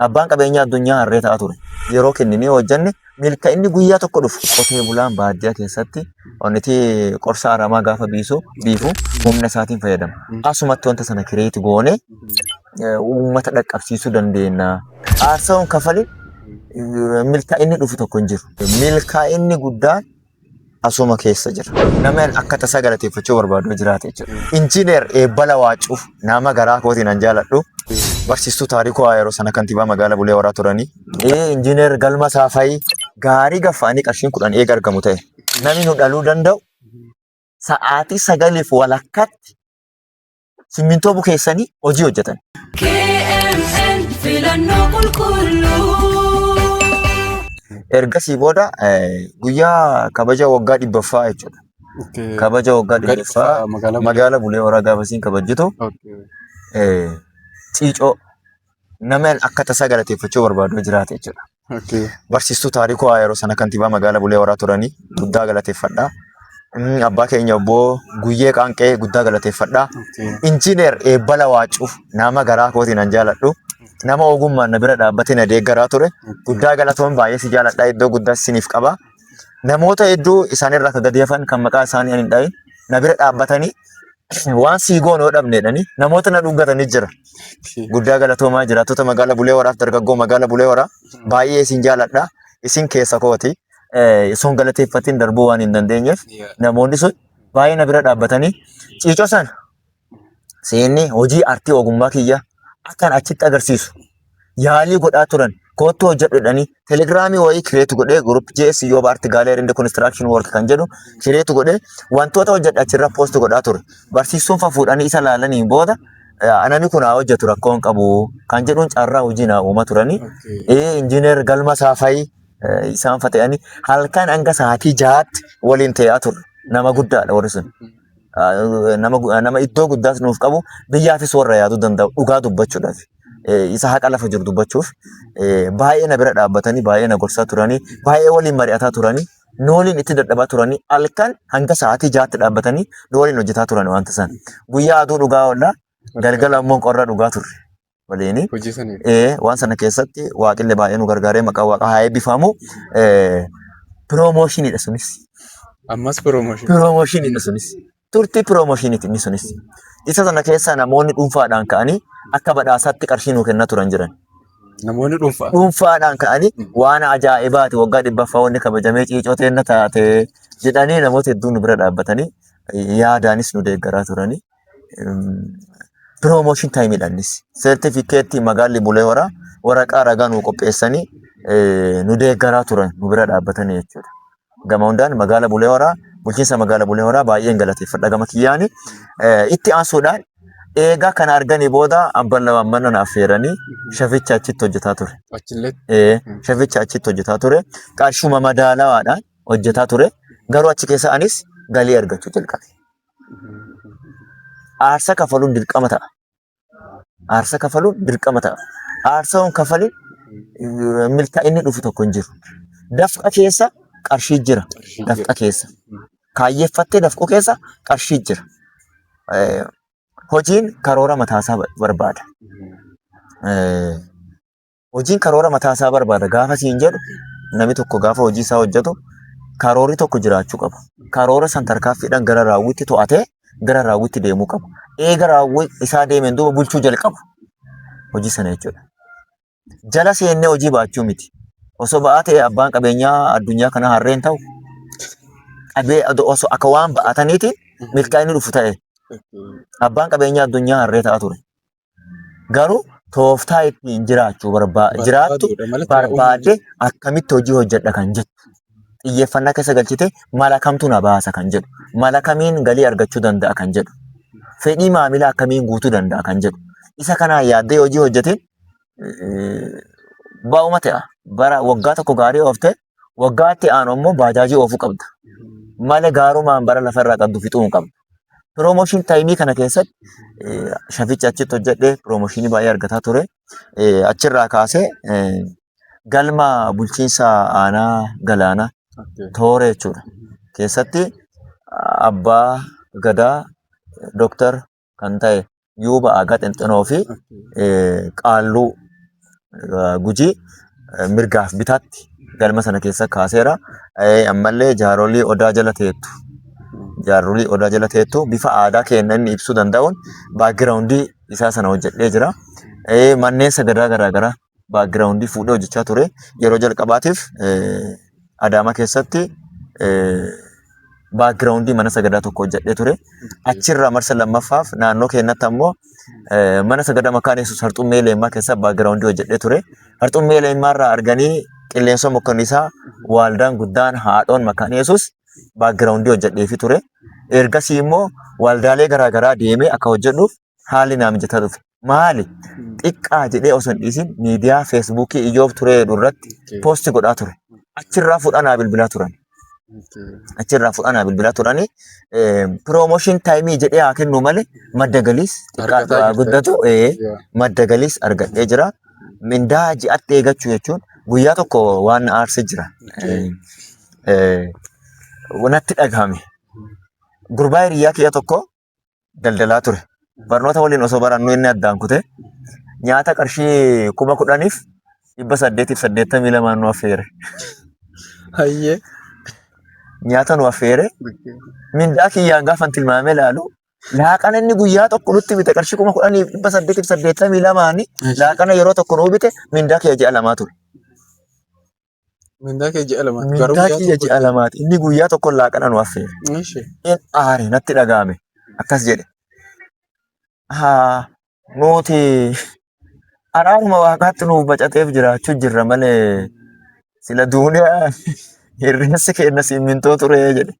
Abbaan qabeenyaa addunyaa harree ta'a ture. Yeroo kenninee hojjenne milka'inni guyyaa tokko dhufu. Qotee bulaan baadiyyaa keessatti onniti qorsa aramaa gaafa biisu biifu humna isaatiin fayyadama. Asumatti wanta sana kireeti goone eh, uummata dhaqqabsiisuu dandeenya. Aarsaawwan kafali eh, milkaa'inni dhufu tokko hin jiru. Milkaa'inni guddaan asuma keessa jira. Namni akka tasaa galateeffachuu barbaadu yoo jiraate jechuudha. Injiineer Eebbala Waacuu nama garaa kootiin an jaaladhu. Barsiistuu Taarikuu Haa yeroo sana kantiibaa magaalaa Bulee Horaa turanii. Ee injiineer Galma Saafayii gaarii gaffa'anii qarshiin kudhan eega argamu ta'e. Namni nu dhaluu danda'u sa'aatii sagaliif walakkaatti simmintoo bukeessanii hojii hojjetan. KMN filannoo qulqulluu. Ergasii booda eh, guyyaa kabaja waggaa dhibbaffaa jechuudha. Okay. Kabaja waggaa Waggaa dhibbaffaa dhibbaffaa magaalaa Bulee. magaalaa Bulee Horaa gaafasiin kabajjitu Okay. eh, ciicoo namni akka tasaa galateeffachuu barbaadu jiraate jechuudha. Okay. Barsiistuu taarikuu haa yeroo sana kantiibaa magaalaa Bulee Horaa turanii guddaa galateeffadha. Mm, Abbaa keenya obbo Guyyee Qaanqee guddaa galateeffadha. Okay. Injiineer Eebbala Waacuu nama garaa kootiin an jaaladhu. Nama ogummaan na bira dhaabbatee na deeggaraa ture. Guddaa galatoon baay'ee si jaaladha. Iddoo guddaa siniif qaba. namoota hedduu isaanirraa akka gadi hafan kan maqaa isaanii ani hin dhahin na bira dhaabbatanii waan sii goonu yoo dhabne jedhanii namoota na dhungatanii jira. Guddaa galatoomaa jiraattota magaalaa Bulee Horaaf dargaggoo magaalaa Bulee Horaa baay'ee isin jaaladha. Isin keessa kooti. Eh, Sun galateeffatiin darbuu waan hin dandeenyeef namoonni sun baay'ee na bira dhaabbatanii ciicoo sana seenee hojii artii ogummaa kiyya akkan achitti agarsiisu yaalii godhaa turan koottuu hojjedhudhanii telegiraamii wayii kireetu godhee gurup jees yoo baarti gaaleerii indi konistiraakshini work kan jedhu kireetu godhee wantoota hojjedha achirra poostu godhaa ture barsiistuun fafuudhanii isa laalanii booda anani kun haa hojjetu rakkoo hin qabu kan jedhuun carraa hojii naa uuma turanii ee injiineer galma saafayii isaan fata'anii halkan hanga sa'aatii jahaatti waliin ta'aa turre nama guddaadha warri sun. nama iddoo guddaas nuuf qabu biyyaafis warra yaaduu danda'u dhugaa dubbachuudhaaf isa haqa lafa jiru dubbachuuf baay'ee na bira dhaabbatanii baay'ee na gorsaa turanii baay'ee waliin mari'ataa turanii nu waliin itti dadhabaa turanii halkan hanga sa'aatii jaatti dhaabbatanii nu waliin hojjetaa turan wanta san guyyaa aduu dhugaa oollaa galgala immoo qorra dhugaa turre. waliin Hojii sanii. ee, waan sana keessatti waaqillee baay'ee nu gargaaree maqaa waaqaa haa eebbifamu. Piroomooshinidha sunis. Ammas promotion. Piroomooshinidha sunis. Turtii piroomooshiniti inni sunis. Isa sana keessaa namoonni dhuunfaadhaan ka'anii akka badhaasaatti qarshii nuu kennaa turan jiran. Namoonni dhuunfaa. Dhuunfaadhaan ka'anii waan ajaa'ibaati waggaa dhibbaffaa wanni kabajamee ciicoo teenna taate jedhanii namoota hedduun nu bira dhaabbatanii yaadaanis nu deeggaraa turanii. Piroomooshin taayimidha innis. Seertifikeettii magaalli bulee horaa waraqaa ragaa nuu qopheessanii eh, nu deeggaraa turan nu bira dhaabbatanii jechuudha. Gama hundaan magaala bulee horaa bulchiinsa magaala bulee horaa baay'een galateeffadha gama kiyyaani. Eh, Itti aansuudhaan eegaa kana arganii booda abban lamaan mana na affeeranii shaficha achitti hojjetaa ture. Achillee Eh, shaficha achitti hojjetaa ture. Qarshuma madaalawaadhaan hojjetaa ture. Garuu achi keessa anis galii argachuu jalqabe. aarsa kafaluun dirqama ta'a. Aarsa kafaluun dirqama ta'a. Aarsa hin kafale milkaa'inni dhufu tokko hin jiru. Dafqa keessa qarshii jira. Dafqa keessa. Kaayyeffattee dafquu keessa qarshii jira. Eh, Hojiin karoora mataasaa ba- barbaada. Eh, Hojiin karoora mataa isaa barbaada gaafa siin jedhu namni tokko gaafa hojii isaa hojjetu karoorri tokko jiraachuu qaba. Karoora san tarkaanfiidhaan gara raawwiitti to'atee gara raawwiitti deemuu qaba. Eega raawwii isaa deemeen duuba bulchuu jalqabu hojii sana jechuudha. Jala seennee hojii baachuu miti. Osoo ba'aa ta'e abbaan qabeenyaa addunyaa kana harreen ta'u qabee osoo akka waan ba'ataniitiin milkaa'inni dhufu ta'e abbaan qabeenyaa addunyaa harree ta'a ture. Garuu tooftaa ittiin jiraachuu barbaa jiraattu Barbaaduudha malee taa'uu hin barbaadde akkamitti hojii hojjedha kan jettu. Xiyyeeffannaa keessa galchite mala kamtu na baasa kan jedhu. Mala kamiin galii argachuu danda'a kan jedhu. Fedhii maamilaa akkamiin guutuu danda'a kan jedhu. Isa kanaan yaaddee hojii hojjeteen eh, baa'uma ta'a. Bara waggaa tokko gaarii ooftee Waggaa itti aanu ammoo baajaajii oofuu qabda. Mala gaarumaan bara lafa irraa qabdu fixuu hin qabdu. Piroomooshin taayimii kana keessatti eh, shafichi achitti hojjedhee piroomooshinii baay'ee argataa ture. Eh, Achirraa kaasee eh, galma bulchiinsa aanaa galaanaa toora jechuudha. Keessatti abbaa gadaa Dooktar kan ta'e Yuuba Aagaa Xinxinoo fi Qaalluu Gujii mirgaaf bitaatti galma sana keessa kaaseera. Ammallee jaarolii odaa jala teettu jaarolii odaa jala teettu bifa aadaa keenya inni ibsuu danda'uun baagiraawundii isaa sana hojjedhee jira. Manneen sagadaa garaagaraa background fuudhee hojjechaa ture. Yeroo jalqabaatiif Adaamaa keessatti background mana sagadaa tokko hojjedhee ture. Achirraa marsa lammaffaaf naannoo keenyatti ammoo mana sagadaa makaan yesus harxummee leemmaa keessa background hojjedhee ture. Harxummee leemmaa irraa arganii qilleensa mokkannisaa waaldaan guddaan haadhoon makaan yesus background hojjedheefi ture. Ergasii immoo waaldaalee garaagaraa deemee akka hojjedhuuf haalli naa mijataa dhufe. Maali? Xiqqaa jedhee osoo hin dhiisin miidiyaa feesbuukii iyyoof turee jedhu irratti poosti godhaa ture. Achirraa fudhaa naa bilbilaa turan. Achirraa fudhaa naa bilbilaa turani. Piroomooshin taayimii jedhee haa kennu malee madda galiis Argataa xiqqaa jirta. guddatu ee, madda galiis argadhee jira. Mindaa ji'atti eegachuu jechuun guyyaa tokko waan na aarse jira. Ee, ee, Natti dhagahame. Gurbaa hiriyaa kiyya tokko daldalaa ture. Barnoota waliin osoo barannu inni addaan kute nyaata qarshii kuma kudhaniif dhibba saddeetiif saddeettamii lamaan nu affeere. Hayyee. Nyaata nu affeere mindaa kiyyaan gaafa tilmaamee ilaalu laaqana inni guyyaa tokko nutti bite qarshii kuma kudhaniif dhibba saddeetiif saddeettamii lamaani laaqana yeroo tokko nuu bite mindaa kiyya ji'a lamaa ture. Mindaa kee ji'a lama. Mindaa kiyya ji'a lamaati. Inni guyyaa tokko laaqana nu affeere. Ishi. In aare natti dhaga'ame. Akkas jedhe. Haa nuti araaruma waaqaatti nuuf bacateef jiraachuu jirra malee sila duuniyaa hirreensi keenya simmintoo turee jedhe.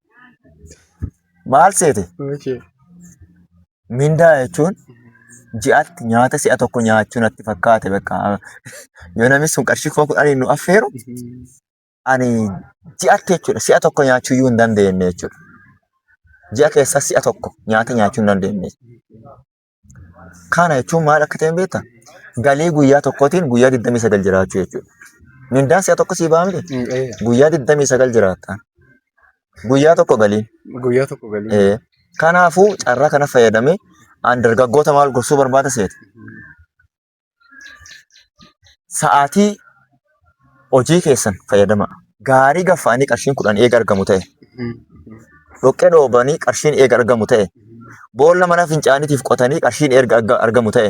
Maal seete? Ishi. Mindaa jechuun ji'atti nyaata si'a tokko nyaachuu natti fakkaate bakka yoo namni sun qarshii kuma kudhaniin nu affeeru ani ji'atti jechuudha si'a tokko nyaachuu iyyuu hin dandeenye jechuudha. Ji'a keessaa si'a tokko nyaata nyaachuu hin dandeenye. Kana jechuun maal akka ta'e hin beektaa? Galii guyyaa tokkootiin guyyaa 29 jiraachuu jechuudha. Mindaan si'a tokko sii ba'a miti? Guyyaa 29 jiraatta. Guyyaa tokko galii. Guyyaa tokko galii. Ee. Kanaafuu carraa kana fayyadamee an dargaggoota maal gorsuu barbaada seete. Sa'aatii hojii keessan fayyadamaa. Gaarii gaffaanii qarshiin kudhan eega argamu ta'e. Dhoqqee dhoobanii qarshiin eega argamu ta'e. Boolla mana fincaaniitiif qotanii qarshiin erga arga- argamu ta'e.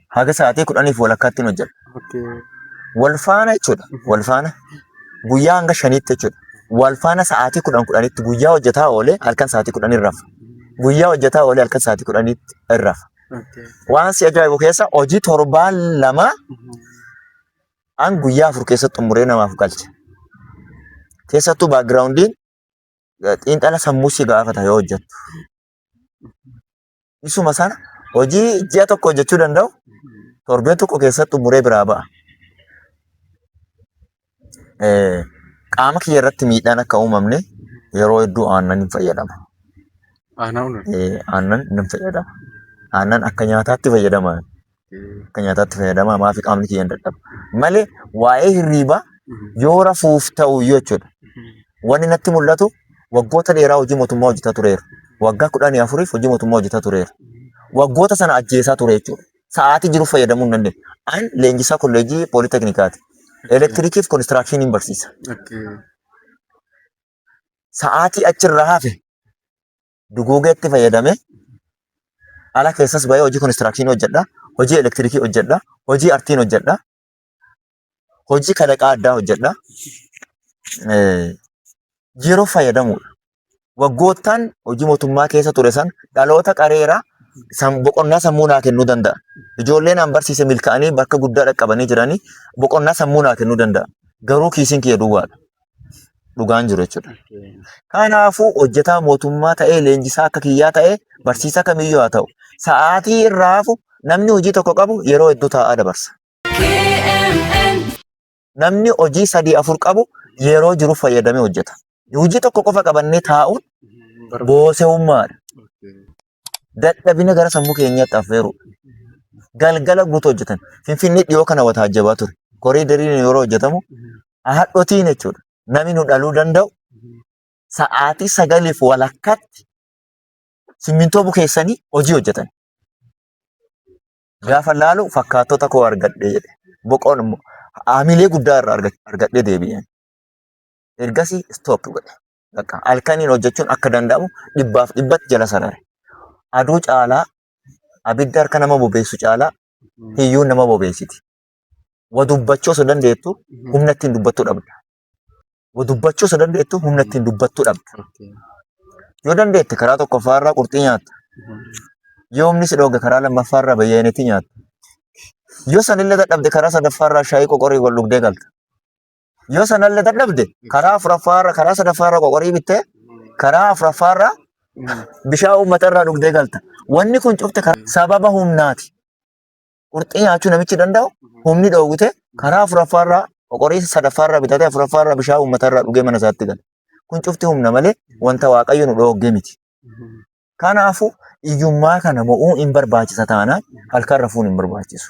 haga sa'aatii kudhaniif walakkaatti hin hojjedha. Okay. Wal faana jechuudha. Wal faana guyyaa hanga shaniitti jechuudha. Wal faana sa'aatii kudhan kudhanitti guyyaa hojjetaa oolee halkan sa'aatii kudhan hin rafa. Guyyaa hojjetaa oolee halkan sa'aatii kudhanitti hin rafa. Okay. Waan si ajaa'ibu keessa hojii torbaan lama Mhm. an guyyaa afur keessatti xumuree namaaf galcha. Keessattuu baagiraawundiin xiinxala sammuu si gaafata yoo hojjettu. isuma sana hojii ji'a tokko hojjechuu danda'u torbee tokko keessatti xumuree biraa ba'a. Eh, Qaama kiyya irratti miidhaan akka uumamne yeroo hedduu aannan hin fayyadama. Aanaa unan. Eh, Aannan hin fayyadama. Aannan akka nyaataatti fayyadama. akka nyaataatti fayyadama maaf qaamni kiyya hin dadhabu malee waa'ee hirriibaa yoo rafuuf ta'u iyyuu jechuudha. Wanni natti mul'atu waggoota dheeraa hojii mootummaa hojjetaa tureera. Waggaa kudhanii afuriif hojii mootummaa hojjetaa tureera. Waggoota sana ajjeesaa ture jechuudha. Sa'aatii jiru fayyadamuu hin dandeenye. An leenjisaa kolleejii pooliteknikaati. Elektiriikii fi konistiraakshiiniin barsiisa. Sa'aatii achirraa hafe dugoogeetti fayyadamee ala keessas bahee hojii konistiraakshini hojjedha, hojii elektirikii hojjedha, hojii artiin hojjedha, hojii kalaqaa addaa hojjedha. Yeroo fayyadamuudha. Waggoottaan hojii mootummaa keessa ture san dhaloota qareeraa boqonnaa sammuu naa kennuu danda'a. Ijoollee naan barsiise milkaa'anii bakka guddaa dhaqqabanii jiranii boqonnaa sammuu naa kennuu danda'a. Garuu kiisiin kiyya duwwaadha. dhugaan jiru jechuudha. Kanaafuu hojjetaa mootummaa ta'ee leenjisaa akka kiyyaa ta'ee barsiisaa kamiyyuu haa ta'u sa'aatii irraa hafu namni hojii tokko qabu yeroo hedduu taa'aa dabarsa. KMN. Namni hojii sadii afur qabu yeroo jiru fayyadamee hojjeta. Hojii tokko qofa qabannee taa'uun boosewummaadha. dadhabina gara sammuu keenyaatti affeeruu galgala guutuu hojjetan. Finfinnee dhiyoo kana wata hajjabaa ture. Koriidariin yeroo hojjetamu haadhotiin jechuudha. Namni nu dhaluu danda'u sa'aatii sagaliif walakkaatti simmintoo bukeessanii hojii hojjetan. Gaafa laalu fakkaattota koo argadhe jedhe. Boqoon immoo haamilee guddaa irraa arga- argadhee deebi'een. Ergasii stop godhe. Bakka halkaniin hojjechuun akka danda'amu dhibbaaf dhibbatti jala sarare. Aduu caalaa abidda harka nama bobeessu caalaa hiyyuun nama bobeessiti. Wa dubbachuu osoo dandeettu humna ittiin dubbattu dhabda. Wa dubbachuu osoo dandeettu humna ittiin dubbattu dhabda. Yoo dandeette karaa tokkoffaa irraa qurxii nyaatta. Yoo humni si dhooge karaa lammaffaa irraa bayyeenetti nyaatta. Yoo sanillee dadhabde karaa sadaffaa irraa shaayii qoqorii wal dhugdee galta. Yoo sanallee dadhabde karaa afuraffaarra karaa sadaffaarra qoqorii bittee karaa afuraffaarra bishaan uummata irraa dhugdee galta. Wanni kun cufte karaa- sababa humnaati. Qurxii nyaachuu namichi danda'u humni dhoowwite karaa afuraffaarra qoqorii sadaffaarra bitatee afuraffaarra bishaan uummata irraa dhugee mana isaatti gala. Kun cufti humna malee wanta waaqayyo nu dhoogge miti. Kanaafuu hiyyummaa kana mo'uu hin barbaachisa taanaan halkan rafuun hin barbaachisu.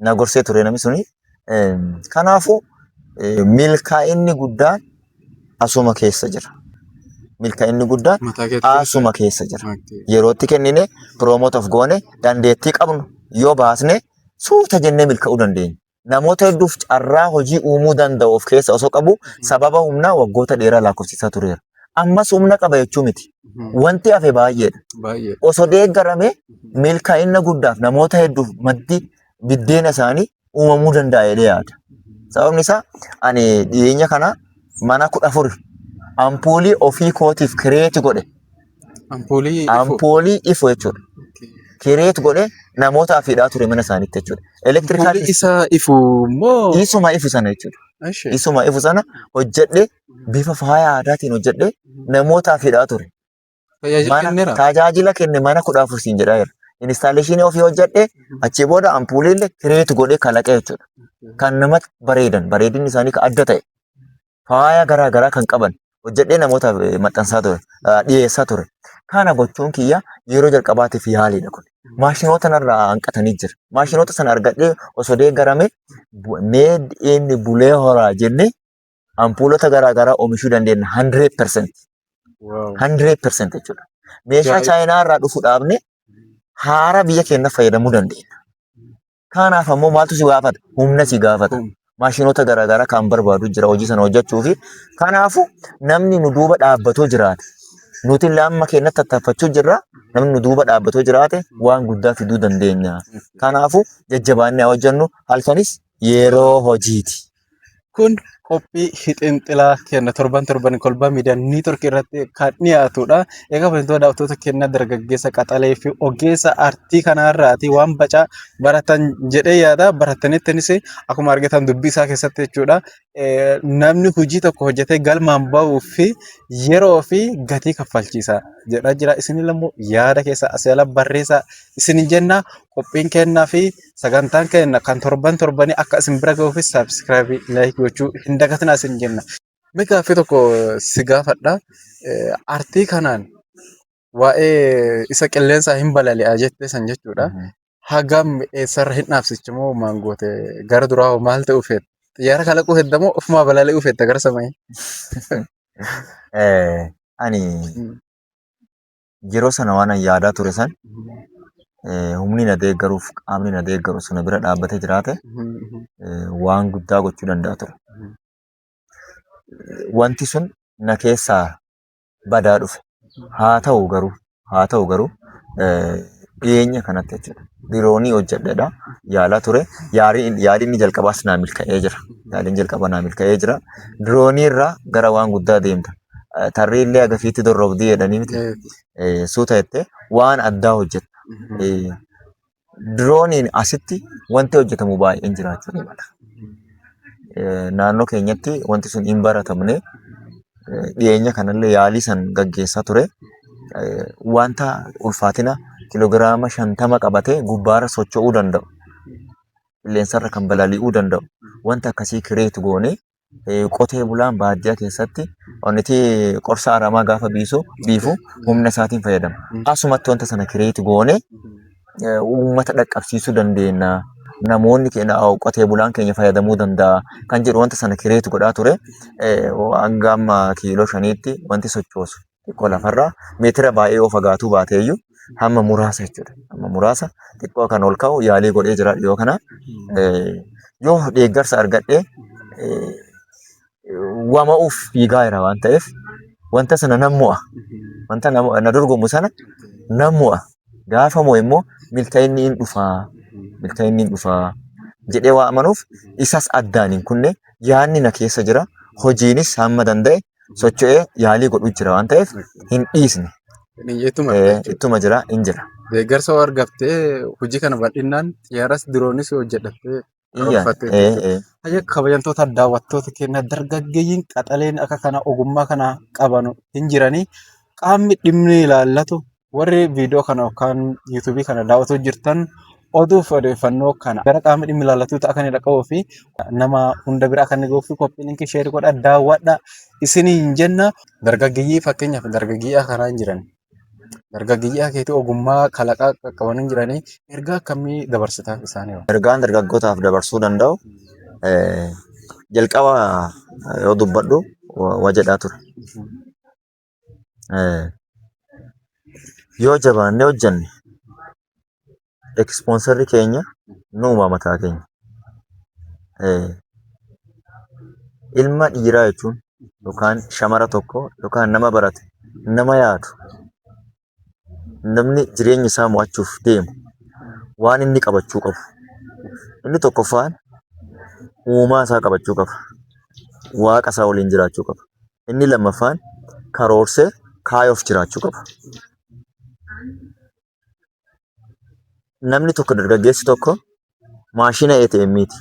na gorsee ture namni suni. Kanaafuu milkaa'inni guddaan asuma keessa jira. Milkaa'inni guddaan asuma keessa jira. Yerootti kennine piroomoot of goone dandeettii qabnu yoo baasne suuta jennee milka'uu dandeenya. namoota hedduuf carraa hojii uumuu danda'u of keessa osoo qabu sababa humnaa waggoota dheeraa lakkoofsisaa tureera. Ammas humna qaba jechuu miti. Wanti hafe baay'eedha. Baay'ee. Osoo deeggarame milkaa'ina guddaaf namoota hedduuf maddi biddeena isaanii uumamuu danda'a jedhee yaada. Sababni isaa ani dhiyeenya kana mana kudha afur ampuulii ofii kootiif kireeti godhe Ampoolii ifoo. ampoolii ifoo jechuudha. Kireet godhee namootaaf hidhaa ture mana isaaniitti jechuudha. Ampoolii Elektirikaal isaa ifuu immoo. isuma ifu sana jechuudha. Ashe. Isuma ifu sana hojjedhee bifa faaya aadaatiin hojjedhee namootaaf hidhaa ture. Tajaajila Mana kenneera. tajaajila kenne mana kudha afur siin jedhaa jira. Instaaleeshinii ofii hojjedhee achii booda ampuuliillee kireet godhee kalaqee jechuudha. Kan namatti bareedan bareedinni isaanii kan adda ta'e. faaya garaa garaa kan qaban hojjedhee namootaaf eh, maxxansaa ture ah, dhiyeessaa ture kana gochuun kiyya yeroo jalqabaatiif yaaliidha kun maashinoota narraa hanqatanii jira maashinoota sana argadhee osoo deeggarame bu- made in bulee horaa jennee ampuulota garaa garaa oomishuu dandeenya 100% Wow. 100% jechuudha meeshaa Ajaa'iba. chaayinaa irraa dhufu dhaabne haara biyya keenya fayyadamuu dandeenya Kanaaf ammoo maaltu si gaafata? Humna si gaafata. Humna. Maashinoota garaagaraa kan barbaadu jira hojii sana hojjechuu fi kanaafuu namni nu duuba dhaabbatoo jiraate nuti illee amma keenyatti tattaafachuu jirra namni nu duuba dhaabbatoo jiraate waan guddaa fiduu dandeenya. Kanaafuu jajjabaannee haa hojjennu halkanis yeroo hojiiti. Kun qophii hixinxilaa kenna torban torban kolbaa miidiyaa niitoorkii irratti kan dhiyaatudha. Egaa wantoota daawwattoota kenna dargaggeessa qaxalee fi ogeessa artii kanarraati waan bacaa baratan jedhee yaada. Barataniittiinis akkuma argitan dubbii isaa keessatti jechuudha namni hojii tokko hojjetee galmaan bahuuf yeroo fi gatii kaffalchiisa jedhaa jira. Isin illee immoo yaada keessan asii ala barreessaa isiniin jenna. qophiin keenya fi sagantaan keenya kan torban torbanii akka isin bira gahuuf sabiskiraayibii fi laayikii gochuu hin dagatinaa isin jenna. Mee gaaffii tokko si gaafadha. Artii kanaan waa'ee isa qilleensaa hin balali'a jette san jechuudha. Hagam eessarra hin dhaabsichi moo maal goote gara duraa hoo maal ta'uu feeta? Xiyyaara kalaquu hedda moo ofumaa balali'uu feetta gara samii? Eh, ani yeroo sana waan an yaadaa ture san eh, humni na deeggaruuf qaamni na deeggaru suna bira dhaabbatee jiraate eh, waan guddaa gochuu danda'a ture. Eh, Wanti sun na keessaa badaa dhufe. Haa ta'u garuu haa ta'u garuu eh, dhiyeenya kanatti jechuudha. Diroonii hojjedheedha yaalaa ture. Yaaliin yaaliin jalqabaas naa milka'ee jira. Yaaliin jalqabaa naa milka'ee jira. Diroonii irraa gara waan guddaa deemta. tarree illee agafiitti dorrobdii jedhanii miti suuta jettee waan addaa hojjetta. Dirooniin asitti wanti hojjetamu baay'een jiraachuu ni mala. Naannoo keenyatti wanti sun hin baratamne dhiyeenya kanallee yaalii san gaggeessaa ture. Wanta ulfaatina kiloogiraama shantama qabatee gubbaarra socho'uu danda'u. Qilleensarra kan balali'uu danda'u. Wanta akkasii kireetu goonee qotee bulaan baadiyyaa keessatti onnitee qorsa aramaa gaafa biisu biifu humna isaatiin fayyadama. Asumatti wanta sana kireeti goone uummata dhaqqabsiisuu dandeenya. Namoonni keenya qotee bulaan keenya fayyadamuu danda'a kan jedhu wanta sana kireeti godhaa ture hanga amma kiiloo shaniitti wanti sochoosu. xiqqoo lafarraa meetira baay'ee yoo fagaatuu baate iyyuu hamma muraasa jechuudha. Hamma muraasa xiqqoo kan ol ka'u yaalii godhee jira dhiyoo kana. Eh, Yoo deeggarsa argadhee eh, wama'uuf fiigaa jira waan ta'eef wanta sana nan mo'a. Wanta na na dorgomu sana nan mo'a. Gaafa mo'e immoo milkaa'inni hin dhufaa. Milkaa'inni hin dhufaa. jedhee waa amanuuf isas addaan hin kunne yaadni na keessa jira hojiinis hamma danda'e socho'ee yaalii godhu jira waan ta'eef hin dhiisne. Ittuma Eh, jechuudha. Ittuma jira hin jira. Deeggarsa yoo argattee hojii kana bal'inaan xiyyaaras diroonis yoo hojjedhattee Iyya. karoorfattee Eh, jechuudha. eh. Hayya kabajamtoota daawwattoota keenya dargaggeeyyiin qaxaleen akka kana ogummaa kana qabanu hin jiranii qaamni dhimmi ilaallatu Warri viidiyoo kana yookaan yuutuubii kana daawwatuu jirtan oduu fi odeeffannoo kana gara qaama dhimmi ilaallatuutti akka inni dhaqqabuu fi nama hunda bira akka inni gahuu fi koppii linkii sheer godha daawwadha isiniin jenna. Dargaggeeyyii fakkeenyaaf dargaggeeyyii kanaa hin jiran. Dargaggeeyyii keetii ogummaa kalaqaa qaqqaban hin jiranii ergaa akkamii dabarsitaaf isaanii? Ergaan dargaggootaaf dabarsuu danda'u jalqaba yoo dubbadhu waa jedhaa ture. Eh, Yoo jabaannee hojjanne ekspoonsarri keenya nuuma mataa keenya. Eh, Ilma dhiiraa jechuun yookaan shamara tokko yookaan nama barate nama yaadu namni jireenya isaa mo'achuuf deemu waan inni qabachuu qabu. Inni tokkoffaan uumaa isaa qabachuu qaba. Waaqa isaa waliin jiraachuu qaba. Inni lammaffaan karoorsee kaayoof jiraachuu qaba. Namni tokko dargaggeessi tokko maashina ATM ti.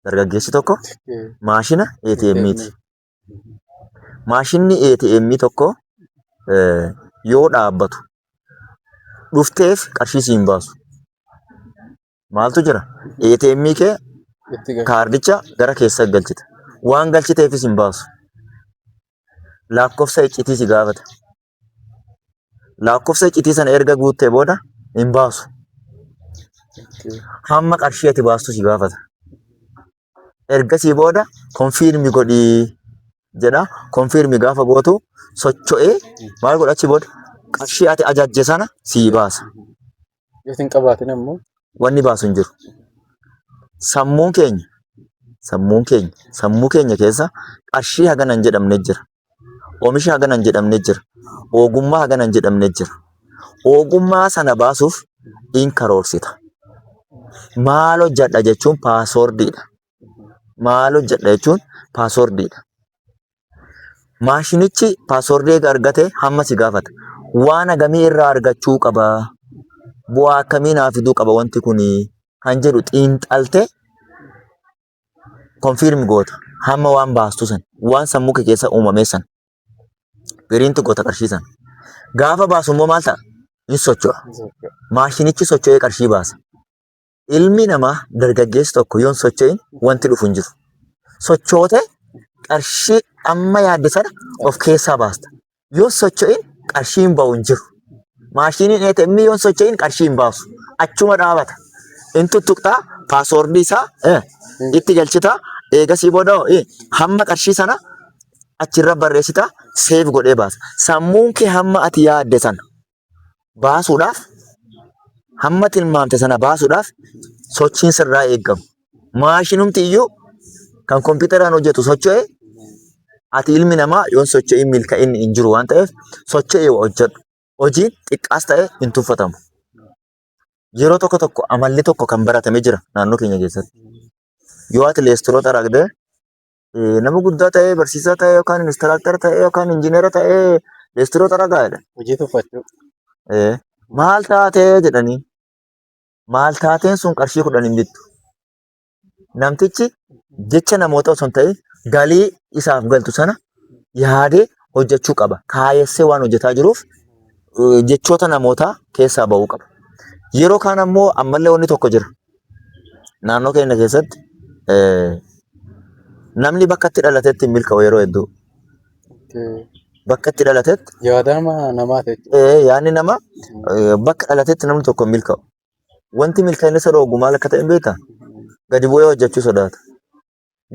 Dargaggeessi tokko maashina ATM ti. Maashinni ATM tokko yoo dhaabbatu dhufteef qarshii siin baasu maaltu jira? ATM kee kaardicha gara keessa galchita. Waan galchiteefis hin baasu. Lakkoofsa iccitii si gaafata. Lakkoofsa iccitii sana erga guuttee booda hin baasu. Hamma qarshii ati baastu si gaafata. ergasii booda konfiirmi godhii jedha. Konfiirmi gaafa gootu socho'ee maal godha achi booda qarshii ati ajajje sana sii baasa. Yoo hin qabaatin ammoo Wanni baasu hin jiru. Sammuun keenya sammuun keenya sammuu keenya keessa qarshii hagana hin jedhamne jira. Omisha hagana hin jedhamne jira. Ogummaa hagana hin jedhamne jira. Ogummaa sana baasuuf in karoorsita. Maal hojjedha jechuun paaswoordiidha. Maal hojjedha jechuun paaswoordiidha. Maashinichi paaswoordii eega argate hamma si gaafata. Waan hagamii irraa argachuu qaba? Bu'aa akkamii naa fiduu qaba wanti kuni? Kan jedhu xiinxaltee konfiirmi goota hamma waan baastu san waan sammuu kee keessa uumamee san piriinti goota qarshii san gaafa baasu immoo maal ta'a ni socho'a maashinichi socho'ee qarshii baasa ilmi namaa dargaggeessi tokko yoon socho'in wanti dhufu hin jiru sochootee qarshii amma yaadde sana of keessaa baasta yoo socho'in qarshii hin ba'u hin jiru. Maashiniin ATM yoo socho'in qarshii hin baasu. Achuma dhaabata. In tuttuqxaa paaswoordii isaa eh, itti galchitaa eegasii booda hoo, eh, hamma qarshii sana achirra barreessitaa seef godhee baasa. Sammuun kee hamma ati yaadde sana baasuudhaaf hamma tilmaamte sana baasuudhaaf sochiin sirraa eegamu. Maashinumti iyyuu kan kompiitaraan hojjetu socho'e ati ilmi namaa yoon socho'in milka'inni hin jiru waan ta'eef socho'e hojjedhu. Hojiin xiqqaas ta'e hin tuffatamu. Yeroo tokko tokko amalli tokko kan baratame jira naannoo keenya keessatti. Yoo ati leestiroo xaragdee eh, nama guddaa ta'ee barsiisaa ta'ee yookaan inistiraaktar ta'ee yookaan injiinera ta'ee leestiroo xaragaa jedhan. Hojii tuffachuu. Eh, maal taatee jedhanii maal taateen sun qarshii kudhan hin bittu. Namtichi jecha namoota osoo hin ta'in galii isaaf galtu sana yaadee hojjechuu qaba. Kaayessee waan hojjetaa jiruuf eh, jechoota namootaa keessaa ba'uu qaba. Yeroo kaan ammoo ammallee wanni tokko jira. Naannoo keenya keessatti namni bakka itti dhalatetti hin milka'u yeroo hedduu. Bakka itti dhalatetti. Yaadama namaa jechuudha. Yaadni nama bakka dhalatetti namni tokko hin milka'u. Wanti milkaa'ina isa dhoogu maal akka ta'e hin beektaa? Gadi bu'ee hojjechuu sodaata.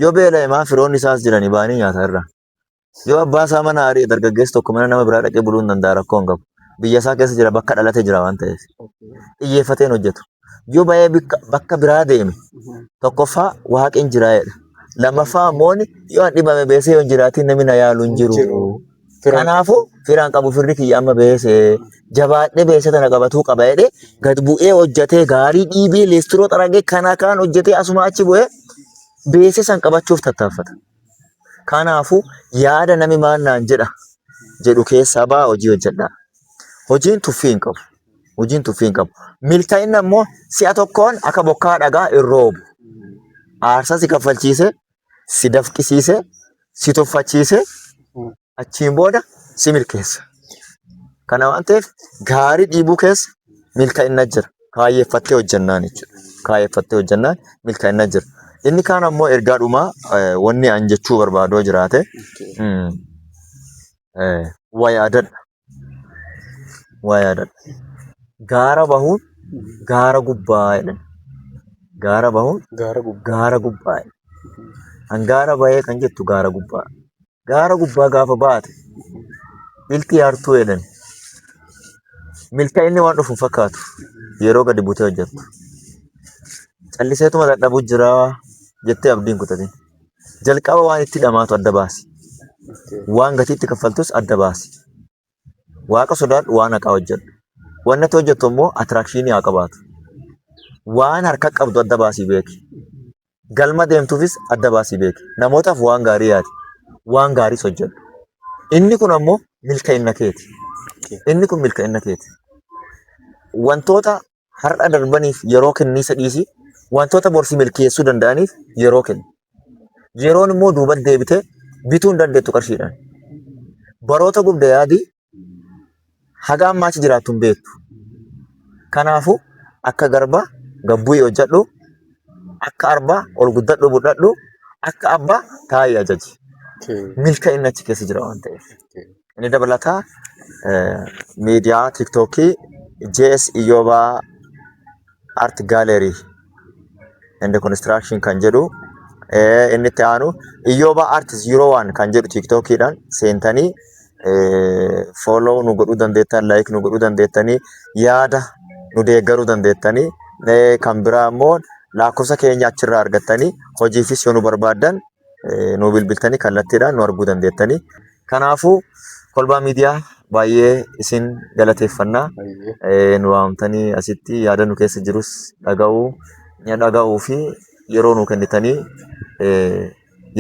Yoo beela'e maa firoonni isaas jiranii baanii nyaata irraa. Yoo abbaan isaa mana ari'e dargaggeessi tokko mana nama biraa dhaqee buluu hin danda'a rakkoo hin qabu. Biyya isaa keessa jira bakka dhalate jira waan ta'eef. Xiyyeeffatee hin hojjetu. Yoo ba'ee bikka- bakka biraa deeme tokkoffaa waaqin jira jedha. Lammaffaa immoo yoo an dhibame beesee yoo hin jiraatiin namni na yaalu hin jiru. Firaan Kanaafuu firaan qabu firri kiyya amma beesee jabaadhee beesee tana qabatuu qaba jedhee gad bu'ee hojjetee gaarii dhiibee leestiroo xaragee kana kaan hojjetee asuma achi bu'ee beesee san qabachuuf tattaaffata. Kanaafuu yaada nami maan naan jedha jedhu keessaa ba'aa hojii hojjedhaa. Hojiin tuffii hin qabu. Hojiin tuffii hin qabu. Milkaa'inni ammoo si'a tokkoon akka bokkaa dhagaa hin roobu. Aarsaa si kaffalchiisee, si dafqisiisee, si tuffachiisee achiin booda si milkeessa. Kana waan ta'eef gaarii dhiibuu keessa milkaa'inna jira. Kaayyeffattee hojjannaan jechuudha. Kaayyeffattee hojjannaan milkaa'inna jira. Inni kaan ammoo ergaa dhumaa eh, wanni an jechuu barbaadoo jiraate mm, eh, waa yaadadha. waa yaadadha. Gaara bahuun gaara gubbaa jedhan. Gaara bahuun Gaara gubbaa. gaara gubbaa jedhan. Kan gaara bahee kan jettu gaara gubbaa. Gaara gubbaa gaafa baate milkii hartuu jedhan. Milkaa'inni waan dhufu hin fakkaatu yeroo gadi butee hojjettu. Calliseetuma dadhabu jira jettee abdiin kutatin. Jalqaba waan itti dhamaatu adda baasi. Waan gatii itti kaffaltus adda baasi. Waaqa sodaadhu waan haqaa hojjedhu. Wanni ati hojjettu immoo attiraakshinii haa qabaatu. Waan harka qabdu adda baasii beeki. Galma deemtuufis adda baasii beeki. Namootaaf waan gaarii yaadi. Waan gaariis hojjedhu. Inni kun ammoo milkaa'inna keeti. Inni kun milkaa'inna keeti. Wantoota Har'a darbaniif yeroo kenniisa dhiisii wantoota borsi milkeessuu danda'aniif yeroo kenni. Yeroon immoo duuba deebitee bituu hin dandeettu qarshiidhaan. Baroota gubda yaadii haga ammaa achi jiraattu hin beektu. Kanaafuu akka garbaa gabbu'ii hojjedhu, akka arbaa ol guddadhu budhadhu, akka abbaa taa'ii ajaji. Milka'inni achi keessa jira waan ta'eef. Inni dabalataa miidiyaa tiiktookii JS Iyyobaa Art Gallery and Construction kan jedhu inni itti aanu Iyyobaa Art 01 kan jedhu tiiktookiidhaan seentanii fooloo nu godhuu dandeettan, laayik nu godhuu dandeettanii, yaada nu deeggaruu dandeettanii kan biraa immoo lakkoofsa keenya achirraa argattanii hojiifis yoo nu barbaaddan nu bilbiltanii kallattiidhaan nu arguu dandeettanii. Kanaafuu kolbaa miidiyaa baay'ee isin galateeffannaa nu waamtanii asitti yaada nu keessa jirus dhaga'uu dhaga'uu fi yeroo nu kennitanii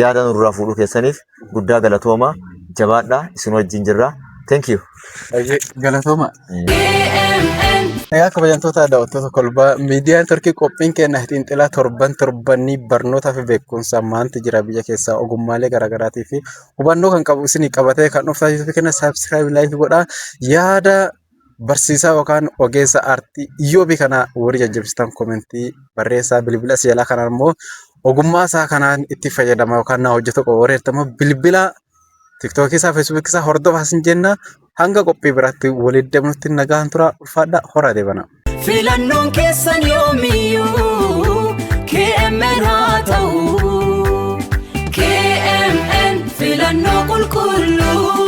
yaada nurraa fuudhuu keessaniif guddaa galatooma jabaadhaa isin wajjin jirra. Thank you. Baay'ee galatooma. Egaa kabajamtoota daawwattoota kolbaa miidiyaan Turkii qophiin keenya xiinxalaa torban torbanii barnootaa fi beekumsa maanti jira biyya keessaa ogummaalee garaagaraatii fi hubannoo kan qabu isinii qabatee kan dhuftaa yuutuubii keenya saabsiraayibii laayikii godhaa yaada barsiisaa yookaan ogeessa aartii iyyoobii kana warri jajjabsitan komentii barreessaa bilbila as jalaa kanaan immoo ogummaa isaa kanaan itti fayyadama yookaan na hojjetu qaba warri jettan immoo bilbila Tiktookii isaa, Feesbuukii isaa hordofaa sin jenna. Hanga qophii biraatti walitti deemnutti nagaan turaa ulfaadhaa horaa deebanaa. Filannoon keessan yoomiyyuu KMN haa ta'u. KMN filannoo qulqulluu.